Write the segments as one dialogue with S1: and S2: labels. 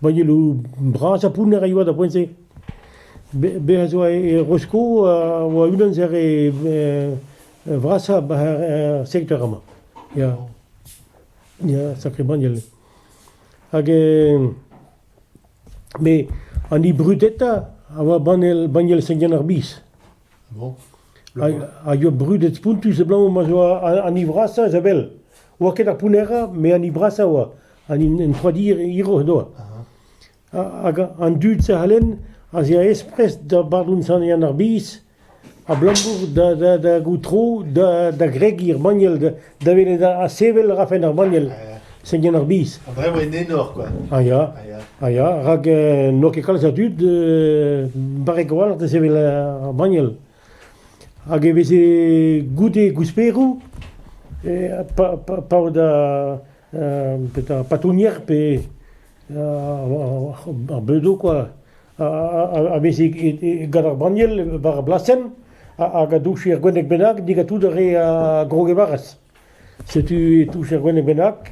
S1: Voyelloù bras ha pounner e oa d'ar poent-se. Bez ez oa e Rosko a oa unan eus ar vrasañ er sektor amañ. Ya, ya, sakramant. Hag met an hibridetañ a oa banniel banniel Seigneur ar Biz. Hag eo brudet spontus abalamour ma zo an hini vrasañ a-zabel. Oa ket ar pounnerra, met an hini brasañ oa. An entroidir hiroc'h doa. Hag an dud-se c'hallen az ea esprest da bardoun Sant-Yann ar Biz abalamour da goutro, da gregiñ er banniel, Da welet ha sevel a rafen ar banniel, seniñ ar biz. Ha Bremañ en enor, quoi. Ah ya, Ah, ya. ah ya, rak eh, n'eo ket kalz a dud eh, barrek a-walc'h da sevel eh, ar banniel. Hag e veze goude gousperoù, eh, pa, pa, pa o da petra patounier pe ar beudoù kwa, a vez gant ar banniel war ar blasenn hag a douch er gwenneg bennak, digatout a re a Grogevaras. Setu e touch er gwenneg bennak,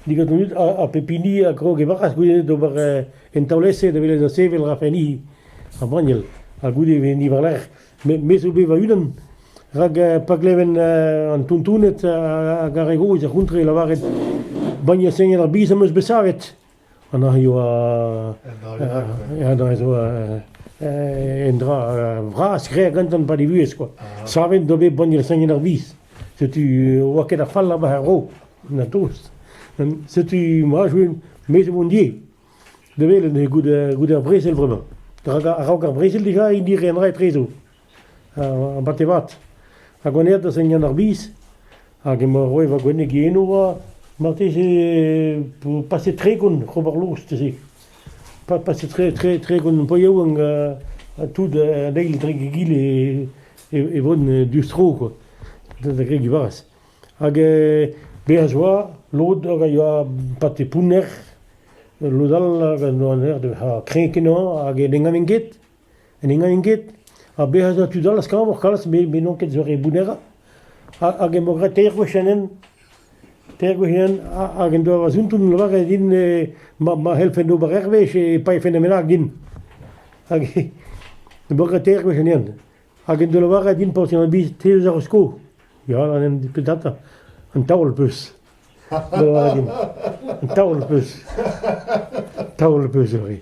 S1: digatout ha pep hini a Grogevaras goude d'ober en taolez-se da welet da sevel rafenni ar banniel ha goude e ni war-lerc'h. Me, me zo bet va-unan, rak pa gleven an tontoned hag ar re gozh ar c'hontre lavaret bagne Seigneur ar Biz am eus bet savet. Anna eo zo un dra vras graet gantan pa ne vuhez quoi. Savet do bet bagne Seigneur ar Biz. Setu oa ket a fall war ar ro, na tost. Setu ma jouin, me zo mon die. Da welet eo goude goude ar brezel vremañ. Rak a-raok ar brezel deja hini renra etrezo, ar batemat. Ha gwenet da Seigneur ar Biz, hag emañ roet va gwenneg eno oa, marteze vo paset tregont c'hobarloz teze. Paset tre tre tregont po yaouank ha tout an eil dre egile e vo diouzh tro, quoi, da grediñ 'barz. Hag bezañ a oa lod hag a yoa pate pounner, lod all hag a oa kreñv kenañ hag ne ganin ket, ne ganin ket. Ha bezañ a oa tud all skañvoc'h kalz met n'on ket zo re bounnerrañ. Hag emañ graet teir gwech an hent, teir gwech an hent hag en doa va zunton lavaret din ma c'hellfen ober hervez e paefen e-menaj din. Hag emañ graet teir gwech an hent. Hag en deus lavaret din paotr an biz, te 'eus ar sko ? Ya, peseurt un taol 'peus. En deus lavaret din, un taol 'peus. Taol 'peus ivez.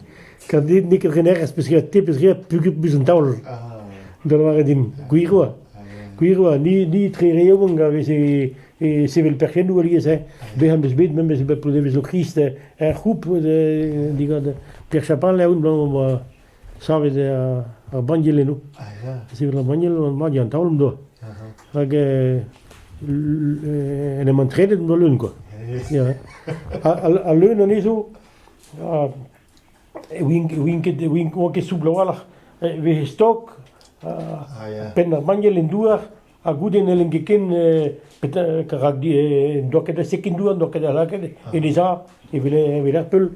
S1: Kat dit n'eo ket renerez, peus graet te, peus graet puget 'peus un taol. En deus lavaret din, gwir oa. Gwir oa, ni, ni tre re yaouank a vez e, e sevel perc'hennoù alies. Hè. Bezañ 'm eus bet, memes bet p'o devezo Krist er c'houp, digant Pêr Chapal, aoun, Savet eo ar banniel eno. Sevel ar banniel mat eo an taol m'doa. Rak en em antredet m'doa leun kwa. Al leun anezho e oant ket soubl a-walc'h. E veze stok penn ar banniel en douar. Ha goude n'hellen ket ken rak n'en doa ket a sekendoù, n'en doa ket a lakaet e leza evel evel ar peul.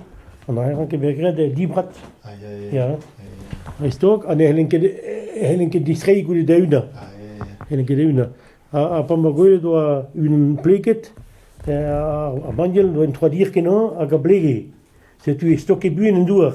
S1: An aeron ket bet graet dibrat. Dreist-holl, ha ne hellen ket hellen ket distreiñ goude da-unañ. Hellen ket da-unañ. Ha pa ma gwelet oa unan pleket, ar banniel oa en troadir kenañ hag a blege. Setu e stoke buan en douar.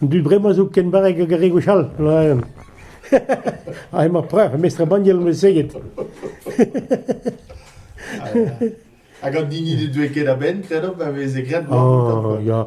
S1: An dud bremañ zo ken barrek hag ar re gwechall, laen. Ha emañ preuc'h, mestr banniel on bet seget. Hag an hini ne deuet ket a-benn, kredo, pa veze graet. Oh, ya.